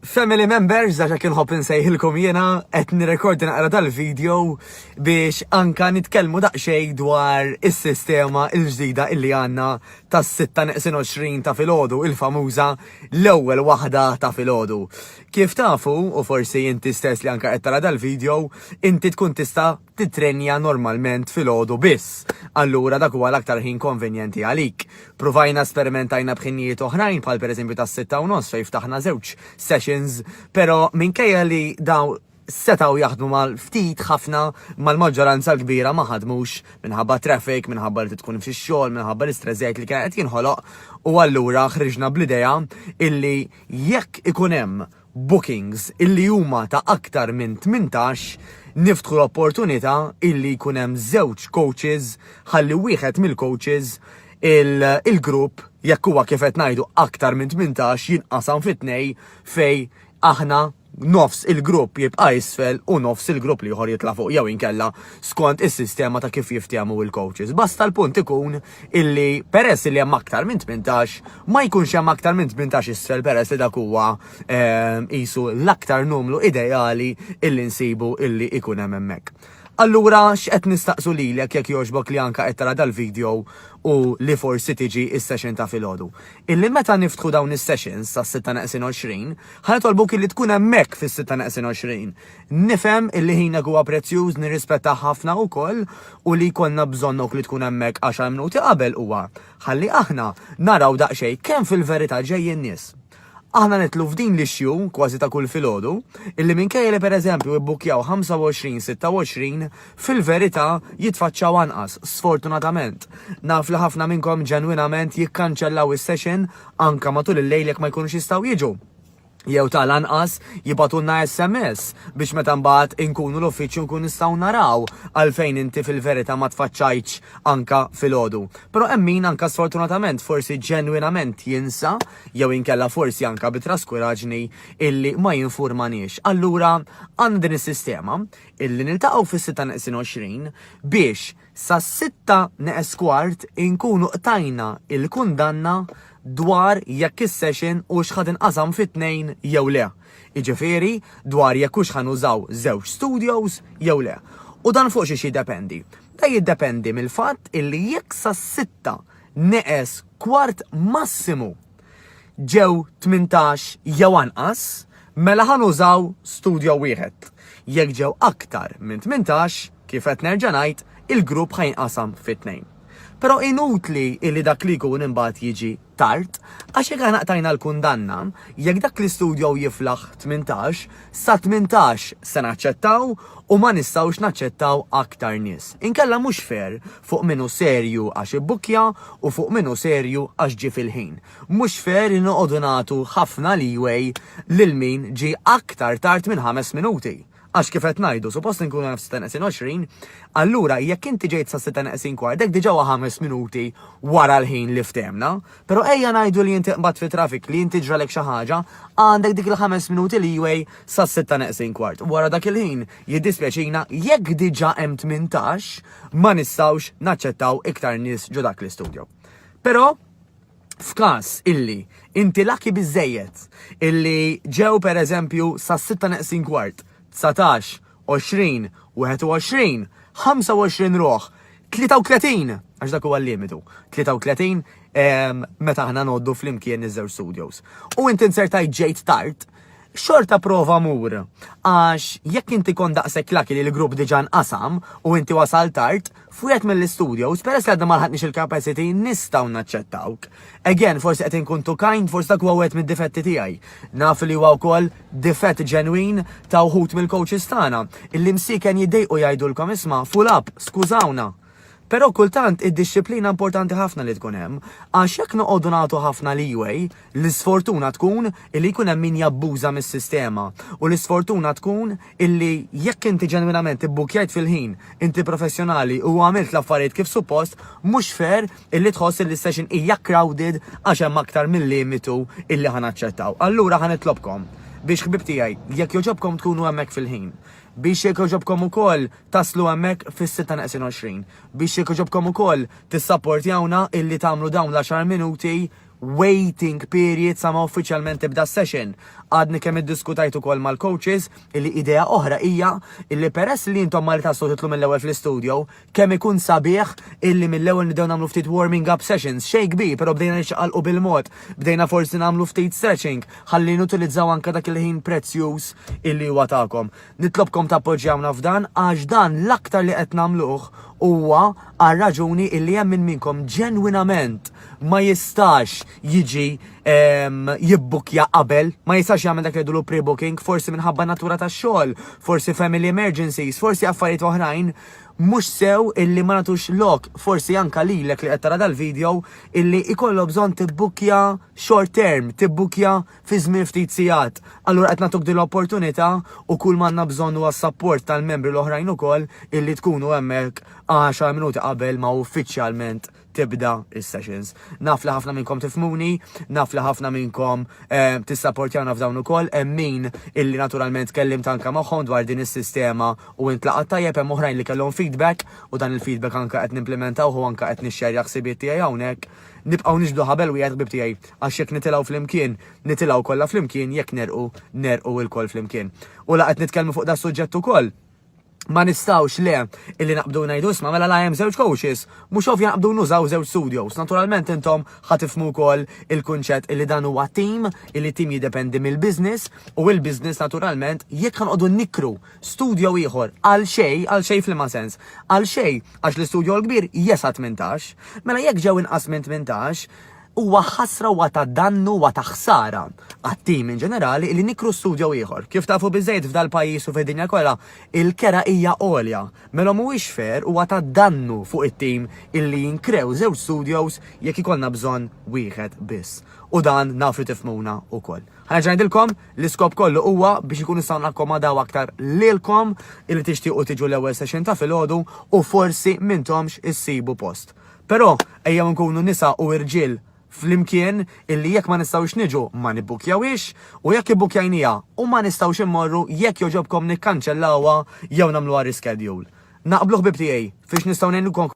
Family members, għaxa kien hop nsejħilkom jena, qed nirrekordi naqra dal-video biex anka nitkellmu daqxej dwar is-sistema il-ġdida illi għanna tas 26 ta' filgħodu, il-famuża l-ewwel waħda ta' filgħodu. Kif tafu, u forsi inti stess li anka qed tara dal-video, inti tkun tista' tittrenja normalment filgħodu biss, allura dak huwa l-aktar ħin konvenjenti għalik. Pruvajna sperimentajna b'ħinijiet oħrajn bħal pereżempju tas-sitta u nofs fejn ftaħna żewġ sessions, però minkejja li dawn setgħu jaħdmu mal-ftit ħafna, mal-maġġoranza l-kbira ma ħadmux minħabba traffic, minħabba li trid tkun fix-xogħol, minħabba l-istress żejjed li kien qed jinħoloq u allura ħriġna bl-idea illi jekk ikun hemm bookings illi huma ta' aktar minn tmintax, niftħu l-opportunità illi jkun hemm żewġ coaches ħalli wieħed mill-coaches, il-grupp, jekk huwa kif qed ngħidu aktar minn tmintax, jinqasam fi tnej fejn aħna nofs il-grupp jibqa' isfel u nofs il-grupp l-ieħor jitla' fuq jew inkella skont is-sistema ta' kif jiftehmu l-coaches. Basta l-punt ikun illi peress li hemm aktar minn 18 ma jkunx hemm aktar minn 18 isfel peress li dak huwa ehm, qisu l-aktar numru ideali illi nsibu illi ikun hemm hemmhekk. Allura x'qed nistaqsu lilek jekk jogħġbok li anka qed tara dal-video u li forsi tiġi is-session ta' filgħodu. Illi meta niftħu dawn is-sessions tas-6 naqsin 20, ħanitolbuk illi tkun hemmhekk fis-6 naqsin 20. Nifhem illi ħinek huwa prezzjuż, nirrispettah ħafna ukoll u li jkollna bżonnok li tkun hemmhekk għaxar mnuti qabel huwa ħalli aħna naraw daqsxejn kemm fil-verità ġejjin nies. Aħna nidħlu f'din l-issue kważi ta' kull filgħodu illi minkejja li pereżempju ibbukkjaw 25, 26, fil-verità jitfaċċaw anqas, sfortunatament. Naf li ħafna minnkom ġenwinament jikkanċellaw is-session anke matul il-lejl jekk ma jkunux jistgħu jiġu. jew tal-anqas jibgħatulna SMS biex meta mbagħad inkunu l-uffiċċju nkun nistgħu naraw għalfejn inti fil-verità ma tfaċċajtx anka filgħodu. Però hemm min anka sfortunatament forsi ġenwinament jinsa jew inkella forsi anka bi traskuraġni illi ma jinfurmaniex. Allura għandna din is-sistema illi niltaqgħu fis-6 neqsin 20 biex Sas-sitta neqes kwart inkunu qtajna l-kundanna dwar jekk is-session hux ħa tinqasam fi tnejn jew le, jiġifieri dwar jekk hux ħa nużaw żewġ studios jew le. U dan fuq xiex jiddependi? Dan jiddependi mill-fatt illi jekk sas-sitta neqes kwart massimu ġew tmintax jew anqas, mela ħa nużaw studjo wieħed. Jekk ġew aktar minn tmintax, kif qed nerġa' ngħid, il-grupp ħa jinqasam fi tnejn. Però inutli illi dak li jkun imbagħad jiġi tard, għax jekk aħna qtajna l-kundanna, jekk dak l-istudjo jiflaħ tmintax, Sa 18 se naċċettaw u ma nistgħux naċċettaw aktar nies. Inkella mhux fair fuq min hu serju għax ibbukkja u fuq min hu serju għax ġie fil-ħin. Mhux fair li noqogħdu nagħtu ħafna leeway lil min ġie aktar tard minn ħames minuti. Għax kif qed ngħidu, suppost inkunu naf sitta neqsin 20, allura jekk inti ġejt sa sitta neqsin kwart, dak diġà huwa ħames minuti wara l-ħin li ftemna. Pero ejja ngħidu li inti qbadt fi traffic li inti ġralek xi ħaġa, għandek dik il-ħames minuti leeway sas-sitta neqsin kwart. Wara dak il-ħin, jiddispjaċina jekk diġà hemm tmintax, ma nistgħux naċċettaw iktar nies ġo dak l-istudjo. Pero f'każ illi inti laki biżejjed illi ġew pereżempju sas-sitta neqsin kwart, 19 20, 21, 25 ruħ, 33, għax dak huwa l-limitu, 33 ehm, meta aħna noddu flimkien iż-żewġ studios. U inti insertajt ġejt tard, xorta prova mur. Għax jekk inti kon daqsek laki li l-grupp diġan qasam u inti wasal tard, F'wieħed mill-istudios, peress li għadna ma lħaqniex il-capacity, nistgħu naċċettawk. Again, forsi qed inkun too kind, forsi dak huwa wieħed mid-difetti tiegħi. Naf li huwa wkoll difett ġenwin ta' wħud mill-coaches tagħna, illi msiken jiddejqu jgħidulkom isma' full up, skużawna. Però kultant id-dixxiplina importanti ħafna li tkun hemm, għax jekk noqogħdu nagħtu ħafna leeway, L-isfortuna tkun illi jkun hemm min jabbuża mis-sistema u l-isfortuna tkun illi jekk inti ġenwinament ibbukkjajt fil-ħin, inti professjonali u għamilt l-affarijiet kif suppost, mhux fair illi tħoss illi s-session hija crowded għax hemm aktar mil-limitu illi ħa naċċettaw. Allura ħa nitlobkom biex ħbieb tiegħi, jekk jogħġobkom tkunu hemmhekk fil-ħin, biex jekk jogħġobkom ukoll taslu hemmhekk fis-sitta neqsin għoxrin, biex jekk jogħġobkom ukoll tissapportjawna illi tagħmlu dawn l-għaxar minuti waiting period sa ma uffiċjalment tibda s-session. Għadni kemm iddiskutajt ukoll mal-coaches illi idea oħra hija illi peress li intom Malta tistgħu titlu mill-ewwel fl-istudio, kemm ikun sabiħ illi mill-ewwel nibdew nagħmlu ftit warming up sessions, xejn kbir però bdejna niċċaqalqu bil-mod, bdejna forsi nagħmlu ftit stretching ħalli nutilizzaw anke dak il-ħin prezzjuż illi huwa tagħkom. Nitlobkom tappoġġjawna f'dan għax dan l-aktar li qed nagħmluh huwa għal raġuni illi hemm minn minnkom ġenwinament ma jistax jiġi jibbukkja qabel, ma jistax jagħmel dak li jgħidulu pre-booking, forsi minħabba natura tax-xogħol, forsi family emergencies, forsi affarijiet oħrajn mhux sew illi ma nagħtux lok, forsi anka lilek li qed tara dal-video illi ikollok bżonn tibbukkja short term, tibbukkja fi żmien ftit sigħat. Allura qed nagħtuk din l-opportunità u kull m'għandna bżonn huwa s-sapport tal-membri l-oħrajn ukoll illi tkunu hemmhekk għaxar minuti qabel ma uffiċjalment tibda is-sessions. Naf li ħafna minnkom tifhmuni, naf li ħafna minnkom eh, tissapportjawna f'dawn ukoll, hemm min illi naturalment kellim tanka magħhom dwar din is-sistema u intlaqat tajjeb hemm oħrajn li kellhom feedback u dan il-feedback anke qed nimplementawh u anke qed nixxerja ħsibiet tiegħi hawnhekk. Nibqgħu niġbdu ħabel wieħed ħbieb tiegħi, għax jekk nitilgħu flimkien, nitilgħu kollha flimkien, jekk negħrqu, negħrqu lkoll flimkien. U la qed nitkellmu fuq das-suġġett ukoll, ma nistgħux le illi naqbdu ngħidu isma' mela la hemm żewġ coaches, mhux ovvja naqbdu nużaw żewġ studios. Naturalment intom ħa tifhmu wkoll il-kunċett illi dan huwa tim, illi tim jiddependi mill-business u l-business naturalment jekk ħanqogħdu nikru Studjo ieħor, għal xejn, għal xejn f'liema sens? Għal xejn, għax l-istudjo l-kbir jesa' tmintax. Mela jekk ġew inqas minn tmintax, huwa ħasra huwa ta' dannu huwa ta' ħsara għat-tim in ġenerali li nikru studjo ieħor. Kif tafu biżejjed f'dal-pajjiż u fid-dinja kollha, il-kera hija għolja. Mela mhuwiex fair huwa ta' dannu fuq it-tim illi jinkrew żewġ studios jekk ikollna bżonn wieħed biss. U dan naf li tifhmuna wkoll. Ħa nerġa' ngħidilkom, L-iskop kollu huwa biex ikun nistgħu nakkomodaw aktar lilkom illi tixtiequ tiġu l-ewwel session ta' filgħodu u forsi m'intomx issibu post. Però ejjew inkunu nisa u irġiel flimkien illi jekk ma nistgħux niġu ma nibbukkjawhiex u jekk ibbukkjajniha u ma nistgħux immorru jekk jogħġobkom nikkanċellawha jew nagħmluha reschedule. Naqblu ħbieb tiegħi? Fiex nistgħu ngħinukom?